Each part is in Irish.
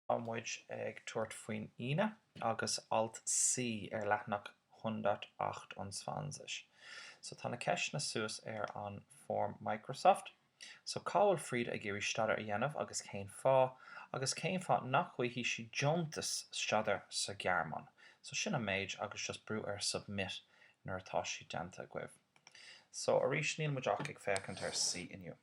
Tá muid ag tabhairt faoin Aoine agus alt C ar leathnach 128. So tá na ceisteanna suas ar an form Microsoft. So cá bhfuil Frieda ag iarraidh staidéar a dhéanamh agus cén fáth? Agus cén fáth nach bhfaighidh sí deontas staidéir sa Ghearmáin? So sin an méid agus just brú ar submit nuair atá sé déanta agaibh. So arís níl muid ach ag féachaint ar C inniu.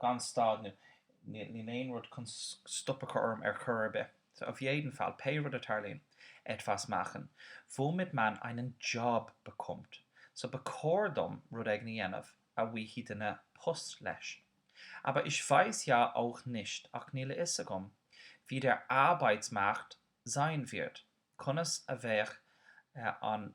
gan stad nó níl aon rud chun stop a chur orm ar chor ar bith. So auf jeden Fall, pé rud a tarlaíonn, etwas machen, womit man einen Job bekommt. So ba chóir dom rud éigin a dhéanamh, a bhfaighidh duine post leis. Aber ich weiß ja auch nicht, ach níl a fhios agam, wie der Arbeitsmarkt sein wird, conas a bheidh an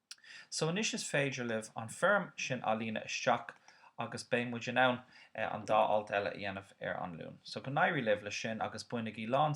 So anois is féidir libh an foirm sin a líonadh isteach agus beidh muid in ann an dá alt eile a dhéanamh ar an Luan. So go n-éirí libh leis sin agus bainigí lán